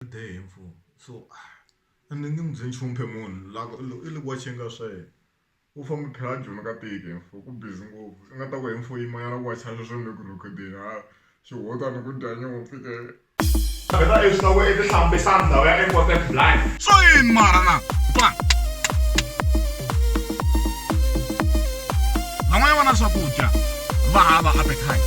dye hi mfumo so a ni nge mu byeli nchumu phela munhu la ku i le ku watch-eni ka swa yena u famba phela a joyina ka tiko hi mfumo ku busy ngopfu i nga ta ku hi mfumo i manyala ku wacha sweswo ni le ku rhekhodeni ha swi hunguta ni ku dya nyimpfu ke phela i swi loko i ti hlambisa ndhawu ya important blind swa yini mara na ba van'wana vana swakudya va hava appetite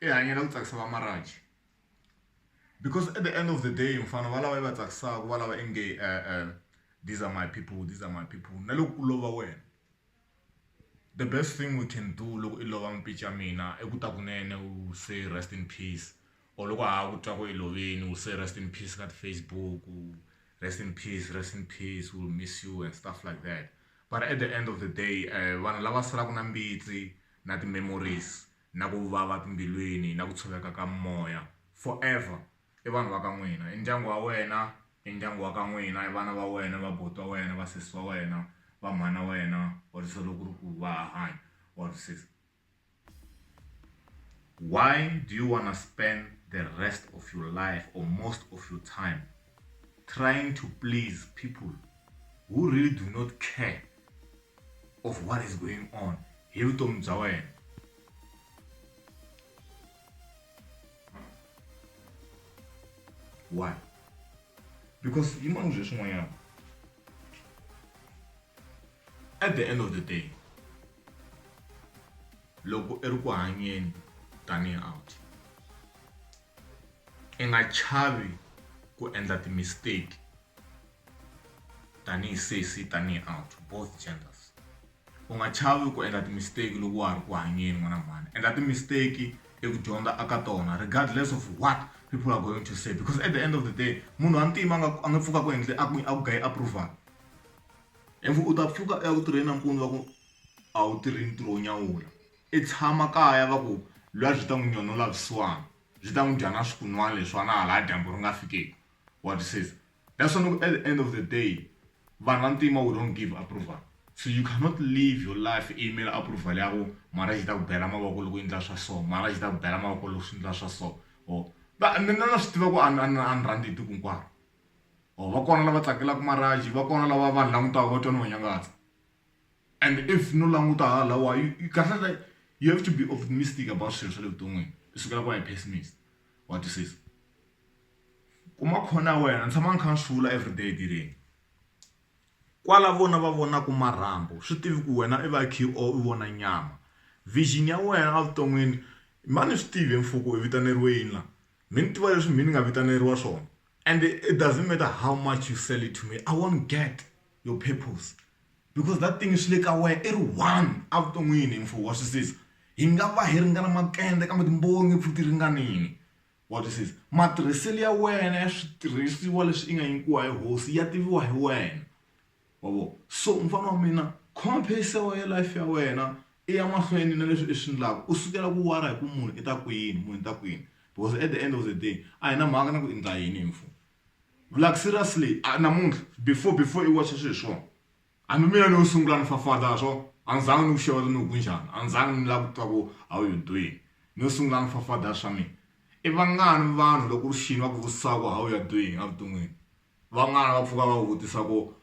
i hanyela ku tsakisa va Marach because at the end of the day mfana va lava yi va tsakisaka va lava inge these are my people these are my people na loko ku lova wena the best thing we can do loko i lova mpica mina i ku ta kunene u say rest in peace or loko ha ku twa ku i loveni u say rest in peace ka ti-facebook rest in peace rest in peace will miss you and stuff like that but at the end of the day um vanhu lava salaka na mbitsi na ti-memories na ku vava timbilwini na ku tshoveka ka moya forever i vanhu va ka n'wina i ndyangu wa wena i ndyangu wa ka n'wina i vana va wena va buti wa wena va sesi wa wena va mhana wena or se loko ri ku va hanya or sesi why do you wanna spend the rest of your life or most of your time trying to please people who really do not care of what is going on hi vutomi bya wena why because yimani zwe swin'wanyana at the end of the day loko i ri ku hanyeni tanihi out I nga chavi ku endla ti mistake tanihi sesi tanihi aunt both genders u nga chavi ku endla ti mistake loko wa ha ri ku hanyeni n'wana mhani endla ti mistake eku dyondza aka tona regardless of what people are going to say because at the end of the day munhu wa ntima a nga a nga pfuka ku endle a ku a ku gayi approval if u ta pfuka eku tirheni nampundzu wa ku a wu tirhi ntirho wo nyawula. I tshama kaya va ku lwa byi ta n'wi nyonula vusiwana byi ta n'wi dya na swikunwana leswiwana ha laha dyambu ri nga fikeki wa twisisa that's why ni ku at the end of the day vanhu va ntima we don't give approval so you cannot live your life i yimela approval ya ku mara xi ta ku bela mavoko loko u endla swa so mara xi ta ku bela mavoko loko swi endla swa so or va ni na swi tiva ku a ni a ni rhandzi hi tiko hinkwaro or va kona lava tsakelaka maraji va kona lava vanhu langutaka va twa ni va nyangatsa And if no languta hala lawa kahlekahle you have to be optimistic about swilo swa le vuton'wini u sukela ku va hi pessimist wa twisisa kuma khona ya wena ni tshama ni kha ni swi vula everyday etirheni kwala vona va vonaka marhambu swi tivi ku wena i va kha u vona nyama vision ya wena evuton'wini ma ni swi tivi mfuko i vitaneriwa yini laha mi ni tiva leswi mina ni nga vitaneriwa swona. And it doesn't matter how much you sell it to me, I won't get your purpose. Because that thing is like away, it one out the meaning for what this is. Hi nga va hi ringana makende kambe timbongi futhi ringanini. What this is. Matirhiselo ya wena ya switirhisiwa leswi i nga nyikiwa hi hosi ya tiviwa hi wena. wa vo so mufana wa mina khoma pace ya wena life ya wena i ya mahlweni na leswi i swi ndlaka u sukela ku wara hi ku munhu i ta ku yini munhu i ta ku yini because at the end of the day a hi na mhaka na ku i ndla yini hi mfumo like seriously namuntlha before before i wacha swilo swona hambi mina ni yo sungula ni fafata swona a ni zanga ni ku xeweta ni ku njhani a ni zanga ni lava ku twa ku how you doing ni yo sungula ni fafada swa mina i vangani vanhu loko ri xini va ku vutisa ku how you are doing evuton'wini. Van'wana va pfuka va vutisa ku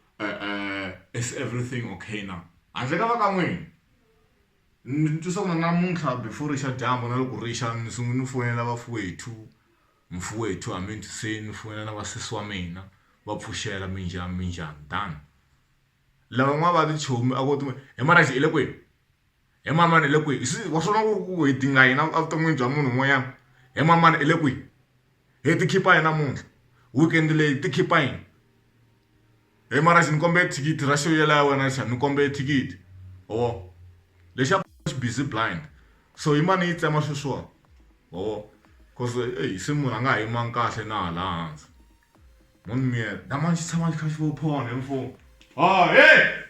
is everything okay na handle ka va ka n'wina ni twisisa ku na namuntlha before ri xa dyambu na loko ri xa ni sungula ni foyinela vafuwethu mfuwethu a mi ni twiseni ni foyinela na vasesi wa mina va pfuxela minjhani minjhani tano lava n'wana va tichomi a ko hi mara xi hi le kwini. He manana hi le kwihi wa swi vona ku ri ku hi dinga yini evuton'wini bya munhu un'wanyana he manana hi le kwihi he ti khipa yini namuntlha weekend leyi hi ti khipa yini he mara xi ni kombela thikithi ra xo yela ya wena xana ni kombela thikithi ho lexi a xi busy blind so hi mane yi tsema sweswiwani ho coz eyi se munhu a nga ha yimanga kahle na hala hansi munhu miyela na mani xi tshama xi kha xi vo phone hi mfumo ha he.